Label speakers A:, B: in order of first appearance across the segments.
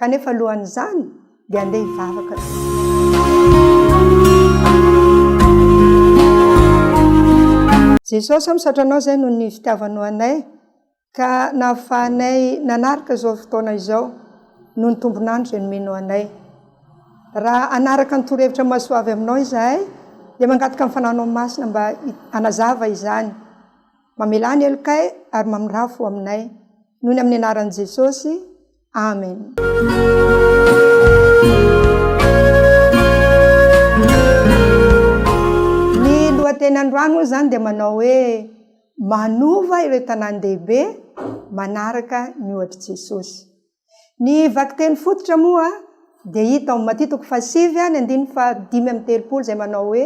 A: kanefa alohan'izany dia andeha hivavaka aloha Jesosy a misaotra anao zay noho ny fitiavanao anay ka nahafahanay nanaraka izao fotoana izao noho ny tombon'andro izay nomenao anay raha hanaraka ny torohevitra mahasoa avy aminao izahay dia mangataka ny fananao masina mba hanazava izany mamelà ny helokay ary mamirafo ho aminay noho ny amin'ny anaran'i Jesosy Amen. Ny lohateny androany moa zany dia manao hoe manova ireo tanàn-dehibe manaraka ny ohatr'i Jesosy. Ny vakiteny fototra moa dia hita ao Matia toko fahasivy any andininy fahadimy amby telopolo izay manao hoe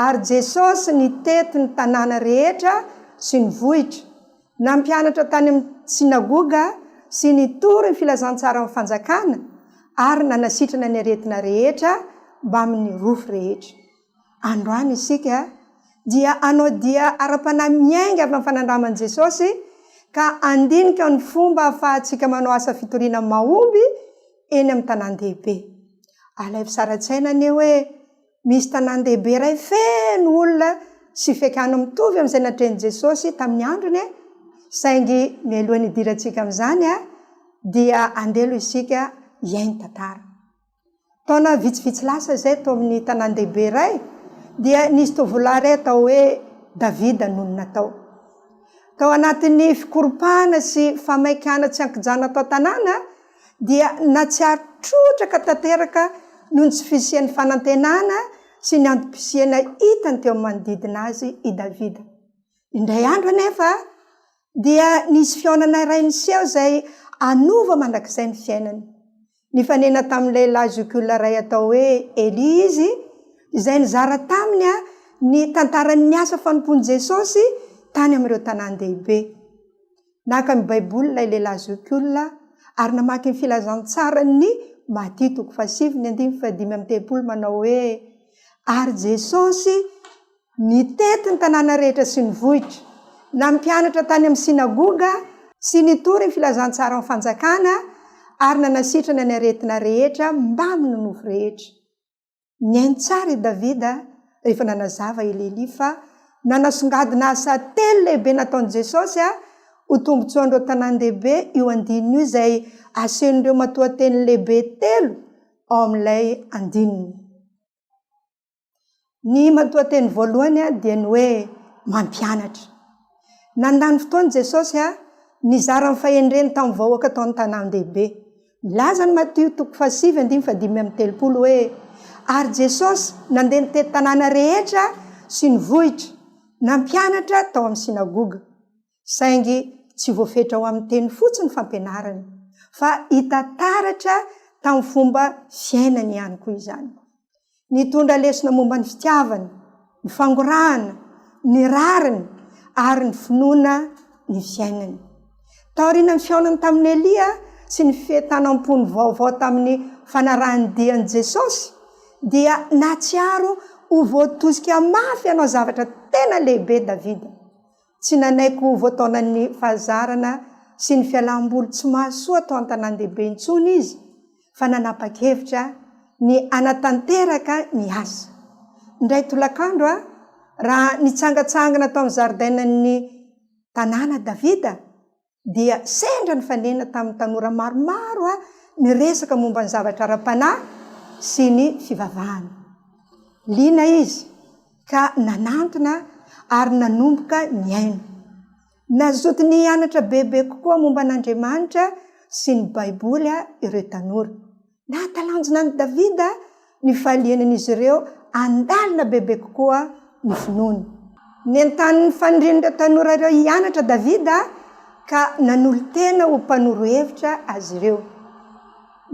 A: ary Jesosy nitety ny tanàna rehetra sy ny vohitra Nampianatra tany amin'ny synagoga sy nitory ny filazantsaran'ny Fanjakana ary nanasitrana ny aretina rehetra mbamin'ny rofy rehetra. Androany isika dia hanao dia ara-panahy miainga avy amin'ny fanandraman'i Jesosy ka handinika ny fomba ahafahantsika manao asa fitoriana mahomby eny amin'ny tanàn-dehibe. Alaivo sara-tsaina anie hoe Misy tanàn-dehibe iray feno olona sy fiakan'ny mitovy amin'izay natrehin'i Jesosy tamin'ny androny e! Saingy mialohan'ny hidirantsika amin'izany dia andeha aloha isika hihaino tantara. Taona vitsivitsy lasa izay tao amin'ny tanàn-dehibe iray dia nisy tovolahy iray atao hoe Davida nonina tao. Tao anatin'ny fikoropahana sy famain-kana tsy an-kijano ato an-tanàna, dia nahatsiaro trotraka tanteraka noho ny tsy fisian'ny fanantenana sy ny antom-pisiana hitany teo amin'ny manodidina azy i Davida. Indray andro anefa, dia nisy fihaonana iray niseho izay hanova mandrakizay ny fiainany. Nifanena tamin'ny lehilahy zokiolona iray atao hoe Elia izy, izay nizara taminy ny tantaran'ny asa fanompoan'i Jesosy tany amin'ireo tanàn-dehibe. Naka ny Baiboly ilay lehilahy zokiolona ary namaky ny Filazantsaran'ny Matia toko fahasivy ny andininy fahadimy amby telopolo manao hoe, Ary Jesosy nitety ny tanàna rehetra sy ny vohitra, nampianatra tany amin'ny synagoga sy nitory ny Filazantsaran'ny Fanjakana ary nanasitrana ny aretina rehetra mbamin'ny nofo rehetra. Nihaino tsara i Davida rehefa nanazava i Lelia fa nanasongadina asa telo lehibe nataon'i Jesosy ho tombontsoan'ireo tanàn-dehibe io andininy io izay asehon'ireo matoanteny lehibe telo ao amin'ilay andininy. Ny matoanteny voalohany dia ny hoe mampianatra. Nandany fotoana i Jesosy nizara ny fahendreny tamin'ny vahoaka tao amin'ny tanàn-dehibe. Milaza ny Matio toko fahasivy andininy fahadimy amby telopolo hoe, Ary Jesosy nandeha nitety tanàna rehetra sy ny vohitra, nampianatra tao amin'ny synagoga. Saingy tsy voafetra ho amin'ny teny fotsiny ny fampianarany, fa hita taratra tamin'ny fomba fiainany ihany koa izany. Nitondra lesona momba ny fitiavana, ny fangorahana, ny rariny ary ny finoana ny fiainany. Taorianan'ny fihaonany tamin'i Elia sy ny fientanam-pony vaovao tamin'ny fanarahan-dia an'i Jesosy, dia nahatsiaro ho voatosika mafy hanao zavatra tena lehibe Davida. Tsy nanaiky ho voataonan'ny fahazarana sy ny fialam-boly tsy mahasoa tao an-tanàn-dehibe intsony izy fa nanapa-kevitra ny hanatanteraka ny asa. Indray tolakandro, raha nitsangantsangana tao amin'ny zaridainan'ny tanàna Davida, dia sendra nifanena tamin'ny tanora maromaro aho niresaka momba ny zavatra ara-panahy sy ny fivavahana. Liana izy ka nanantona aho ary nanomboka nihaino. Nazotiny hianatra bebe kokoa momba an'Andriamanitra sy ny Baiboly ireo tanora. Nahatalanjona an'i Davida ny fahalianan'izy ireo handalina bebe kokoa ny finoany. Nentanin'ny fanirian'ireo tanora ireo hianatra Davida, ka nanolo-tena ho mpanoro hevitra azy ireo.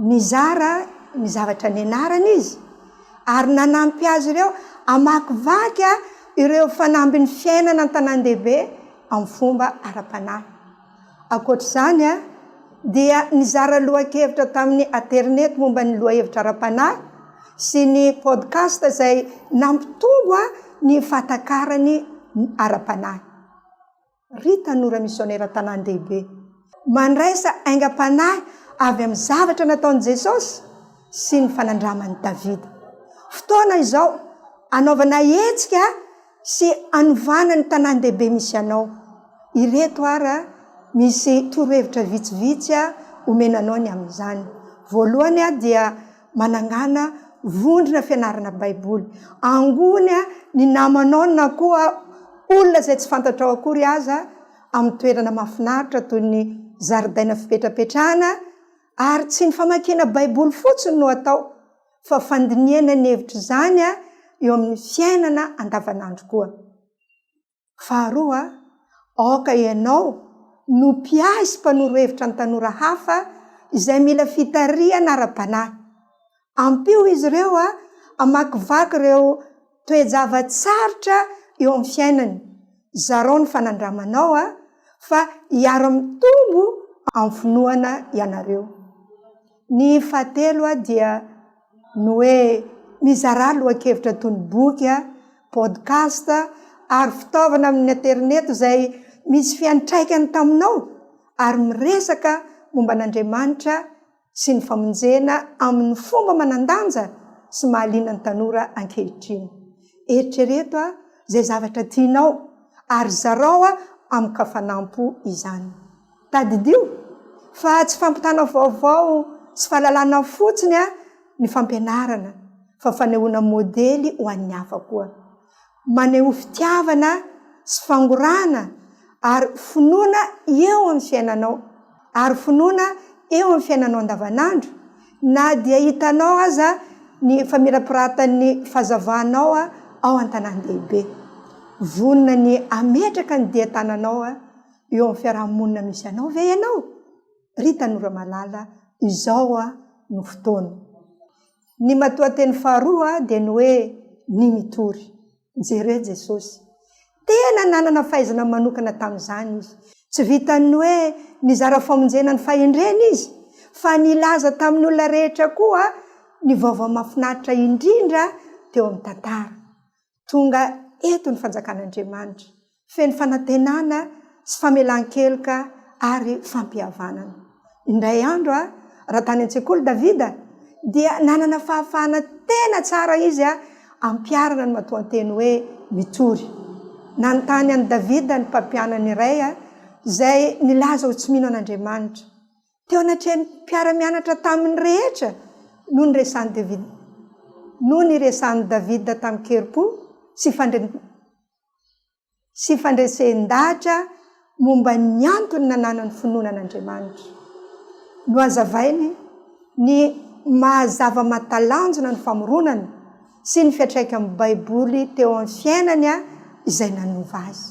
A: Nizara ny zavatra nianarany izy, ary nanampy azy ireo hamakivaky ireo fanambin'ny fiainana an-tanàn-dehibe amin'ny fomba ara-panahy. Ankoatra izany dia nizara lohakevitra tamin'ny aterineto momba ny lohahevitra ara-panahy sy ny podcast izay nampitombo ny fahatakarany ara-panahy. Ry tanora misionera an-tanàn-dehibe, mandraisa aingam-panahy avy amin'ny zavatra nataon'i Jesosy sy ny fanandraman'i Davida. Fotoana izao hanaovana hetsika sy hanovana ny tanàn-dehibe misy anao. Ireto ary misy torohevitra vitsivitsy omena anao ny amin'izany. Voalohany dia manangana vondrona fianarana Baiboly. Angona ny namanao na koa olona izay tsy fantatrao akory aza amin'ny toerana mahafinaritra toy ny zaridaina fipetrapetrahana, ary tsy ny famakiana Baiboly fotsiny no atao fa fandinihana ny hevitr'izany eo amin'ny fiainana andavanandro koa. Faharoa, aoka ianao no mpiahy sy mpanoro hevitra ny tanora hafa izay mila fitarihana ara-panahy. Ampio izy ireo hamakivaky ireo toe-java-tsarotra eo amin'ny fiainany, zarao ny fanandramanao a, fa hiara-mitombo amin'ny finoana ianareo. Ny fahatelo a dia ny hoe mizarà lohan-kevitra toy ny boky a, podcast a, ary fitaovana amin'ny aterineto izay misy fiantraikany taminao ary miresaka momba an'Andriamanitra sy ny famonjena amin'ny fomba manan-danja sy mahaliana ny tanora ankehitriny. Eritrereto izay zavatra tianao ary zarao amin-kafanam-po izany. Tadidio fa tsy fampitana vaovao sy fahalalana fotsiny ny fampianarana fa fanehoana modely ho an'ny hafa koa. maneho fitiavana sy fangorahana ary finoana eo amin'ny fiainanao ary finoana eo amin'ny fiainanao andavanandro na dia hitanao aza ny famirapiratan'ny fazavanao ao an-tanàn-dehibe. Vonona ny hametraka ny dia tananao eo amin'ny fiaraha-monina misy anao ve ianao? Ry tanora malala, izao no fotoana. Ny matoanteny faharoa dia ny hoe ny mitory. Jereo Jesosy. Tena nanana fahaizana manokana tamin'izany Izy. Tsy vitan'ny hoe nizara famonjena ny fahendreny Izy, fa nilaza tamin'ny olona rehetra koa ny vaovao mahafinaritra indrindra teo amin'ny tantara. Tonga eto ny Fanjakan'Andriamanitra, feno fanantenana sy famelan-keloka ary fampihavanana. Indray andro, raha tany an-tsekoly Davida, dia nanana fahafahana tena tsara izy hampiharana ny matoanteny hoe mitory. Nanontany an'i Davida ny mpampianany iray izay nilaza ho tsy mino an'Andriamanitra. Teo anatrehan'ny mpiara-mianatra taminy rehetra no niresahan'i Davida, no niresahan'i Davida tamin-kerim-po sy fandre, sy fandresen-dahatra momba ny antony nananany finoana an'Andriamanitra. Nohazavainy ny maha-zava-mahatalanjona ny famoronana sy ny fiantraikan'ny Baiboly teo amin'ny fiainany izay nanova azy.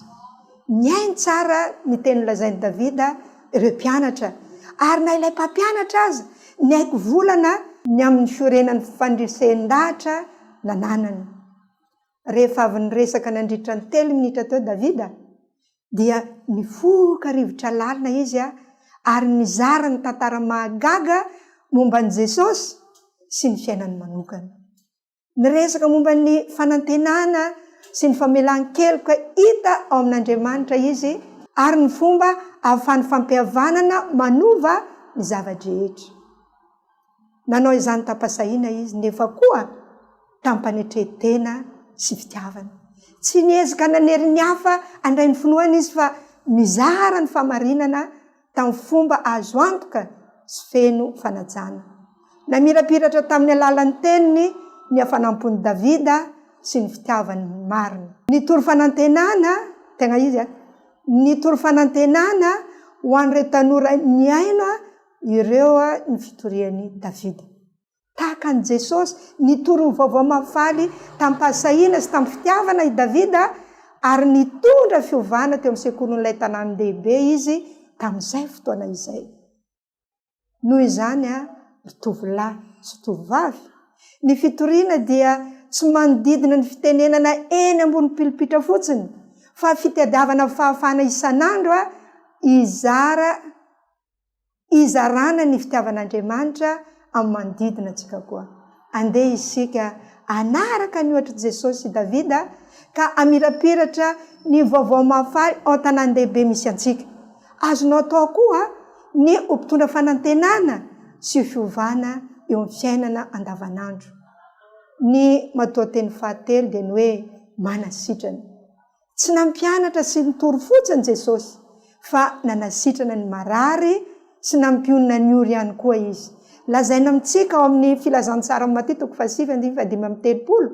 A: Nihaino tsara ny teny nolazain'i Davida ireo mpianatra, ary na ilay mpampianatra aza niaiky volana ny amin'ny fiorenan'ny fandresen-dahatra nananany. Rehefa avy niresaka nandritra ny telo minitra teo Davida, dia nifoka rivotra lalina izy ary nizara ny tantara mahagaga momba an'i Jesosy sy ny fiainany manokana. Niresaka momba ny fanantenana sy ny famelan-keloka hita ao amin'Andriamanitra izy ary ny fomba ahafahan'ny fampihavanana manova ny zava-drehetra. Nanao izany tam-pahasahiana izy, nefa koa tam-panetren-tena sy fitiavana. Tsy niezaka nanery ny hafa handray ny finoany izy fa nizara ny fahamarinana tamin'ny fomba azo antoka sy feno fanajana. Namirapiratra tamin'ny alalan'ny teniny ny hafanam-pon'i Davida sy ny fitiavany ny marina. Nitory fanantenana, tegna izy a, nitory fanantenana ho an'ireo tanora nihaino Ireo ny fitorian'i Davida. Tahaka an'i Jesosy, nitory ny Vaovao Mahafaly tamim-pahasahiana sy tamin'ny fitiavana i Davida, ary nitondra fiovana teo amin'ny sekolin'ilay tanàn-dehibe izy tamin'izay fotoana izay. Noho izany, ry tovolahy sy tovovavy, ny fitoriana dia tsy manodidina ny fitenenana eny ambony pilipitra fotsiny, fa fitadiavana fahafahana isan'andro hizara Hizarana ny fitiavan'Andriamanitra amin'ny manodidina antsika koa. Andeha isika hanaraka ny ohatr'i Jesosy sy Davida ka hamirapiratra ny vaovao mahafaly ao an-tanàn-dehibe misy antsika. Azonao atao koa ny ho mpitondra fanantenana sy fiovana eo amin'ny fiainana andavanandro. Ny matoanteny fahatelo dia ny hoe manasitrana. Tsy nampianatra sy nitory fotsiny Jesosy, fa nanasitrana ny marary sy nampionona ny ory ihany koa Izy. Lazaina amintsika ao amin'ny Filazantsaran'i Matia toko fahasivy andininy fahadimy amby telopolo,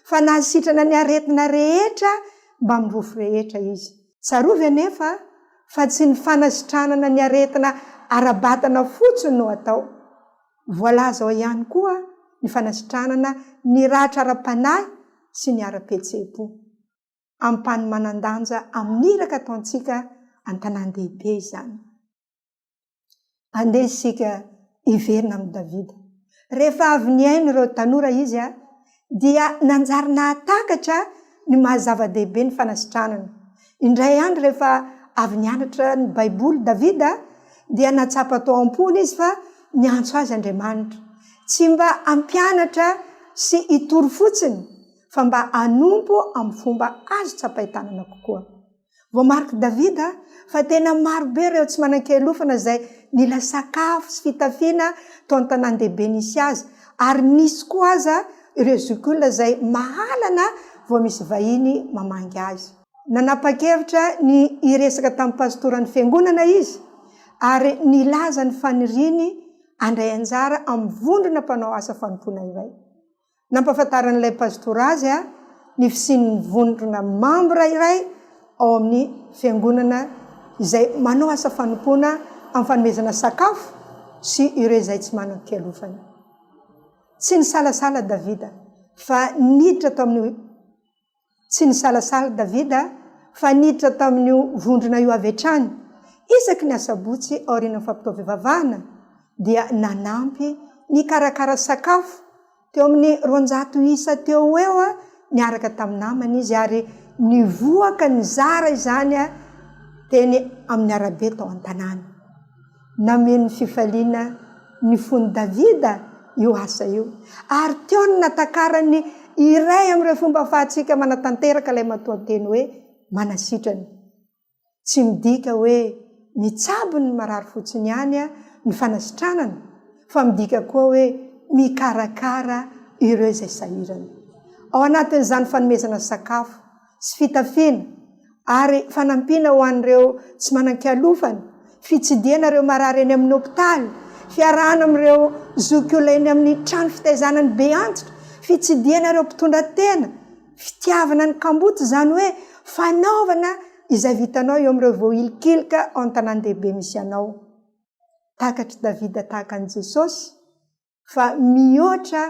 A: fa nahasitrana ny aretina rehetra mbamin'ny rofy rehetra Izy. Tsarovy anefa fa tsy ny fanasitranana ny aretina ara-batana fotsiny no atao. Voalaza ao ihany koa ny fanasitranana ny ratra ara-panahy sy ny ara-pihetseham-po. ampahany manan-danja amin'ny iraka ataontsika an-tanàn-dehibe izany. Andeha isika hiverina amin'i Davida. Rehefa avy nihaino ireo tanora izy dia nanjary nahatakatra ny maha-zava-dehibe ny fanasitranana. Indray andro rehefa avy nianatra ny Baiboly Davida dia nahatsapa tao am-pony izy fa niantso azy Andriamanitra, tsy mba hampianatra sy hitory fotsiny, fa mba hanompo amin'ny fomba azo tsapain-tanana kokoa. Voamarik'i Davida fa tena maro be ireo tsy manan-kialofana izay nila sakafo sy fitafiana tao an-tanàn-dehibe nisy azy, ary nisy koa aza ireo zokiolona izay mahalana vao misy vahiny mamangy azy. Nanapa-kevitra ny hiresaka tamin'ny pasitoran'ny fiangonana izy, ary nilaza ny faniriany handray anjara amin'ny vondrona mpanao asa fanompoana iray. Nampahafantaran'ilay pastora azy ny fisian'ny vondrona mambra iray ao amin'ny Fiangonana izay manao asa fanompoana amin'ny fanomezana sakafo sy ireo izay tsy manan-kialofana. Tsy nisalasala Davida fa niditra tao amin'ny Tsy nisalasala Davida fa niditra tamin'io vondrona io avy hatrany. Isaky ny Asabotsy aorian'ny fampitaovivavahana, dia nanampy nikarakara sakafo teo amin'ny roanjato isa teo ho eo niaraka tamin'ny namany izy, ary nivoaka nizara izany teny amin'ny arabe tao an-tanàna. Nameno fifaliana ny fon'i Davida io asa io, ary teo no natakarany iray amin'ireo fomba ahafahantsika manatanteraka ilay matoanteny hoe manasitrana. Tsy midika hoe mitsabo ny marary fotsiny ihany ny fanasitranana, fa midika koa hoe mikarakara ireo izay sahirana. Ao anatin'izany fanomezana sakafo sy fitafiana ary fanampiana ho an'ireo tsy manan-kialofana, fitsidihana ireo marary eny amin'ny hopitaly, fiarahana amin'ireo zokiolona eny amin'ny trano fitaizana ny be antitra, fitsidihana ireo mpitondra tena, fitiavana ny kamboty izany hoe fanaovana izay vitanao eo amin'ireo voahilikilika ao amin'ny tanàn-dehibe misy anao. Takatr'i Davida tahaka an'i Jesosy fa mihoatra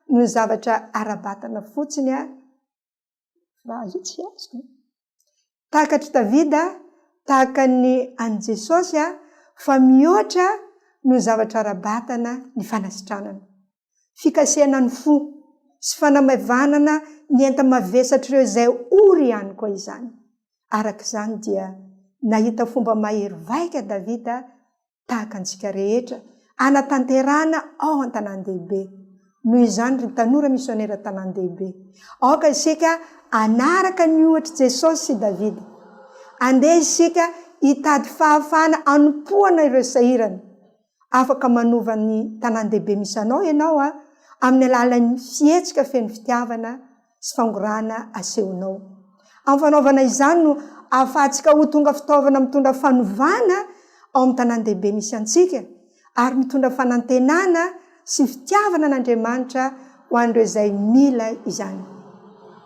A: noho ny zavatra ara-batana fotsiny Raha izao tsy azoko e! Tahaka an-dry Davida, tahaka ny an'i Jesosy fa mihoatra noho ny zavatra ara-batana ny fanasitranana. Fikasihana ny fo sy fanamaivanana ny enta-mavesatr'ireo izay ory ihany koa izany. Araka izany dia nahita fomba mahery vaika Davida tahaka antsika rehetra, hanatanterahana ao an-tanàn-dehibe. Noho izany, ry tanora misionera tanàn-dehibe, aoka isika hanaraka ny ohatr'i Jesosy sy Davida. Andeha isika hitady fahafahana hanompoana ireo sahirana. Afaka manova ny tanàn-dehibe misy anao ianao amin'ny alalan'ny fihetsika feno fitiavana sy fangorahana asehonao. Amin'ny fanaovana izany no ahafahantsika ho tonga fitaovana mitondra fanovana ao amin'ny tanàn-dehibe misy antsika, ary mitondra fanantenana sy fitiavana an'Andriamanitra ho an'ireo izay mila izany.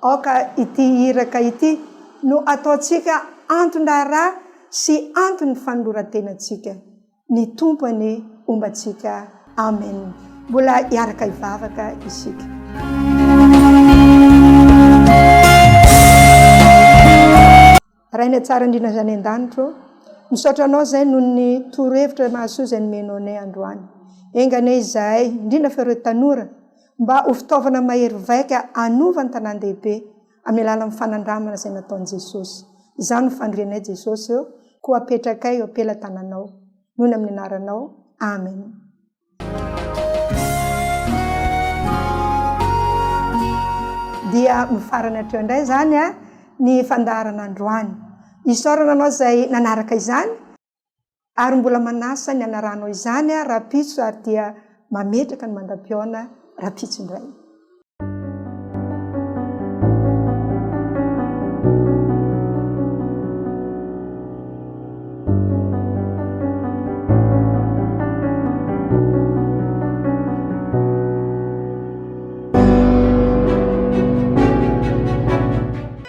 A: Aoka ity iraka ity no ataontsika anton-draharaha sy anton'ny fanoloran-tenantsika. ny Tompo anie homba antsika Amen mbola hiaraka hivavaka isika. Rainay tsara indrindra izany an-danitra ô, misaotra anao izay noho ny torohevitra mahasoa izay nomenao anay androany. Enga anie izahay, indrindra fa ireo tanora, mba ho fitaovana mahery vaika hanova ny tanàn-dehibe, amin'ny alalan'ny fanandramana izay nataon'i Jesosy. Izao no fandrenay Jesosy ô, koa apetrakay eo am-pelatananao. Noho ny amin'ny anaranao. Amen. dia mifarana hatreo indray izany a ny fandaharana androany isaorana anao izay nanaraka izany ary mbola manasa ny hanaranao izany aho rahampitso ary dia mametraka ny mandam-pihaona rahampitso indray.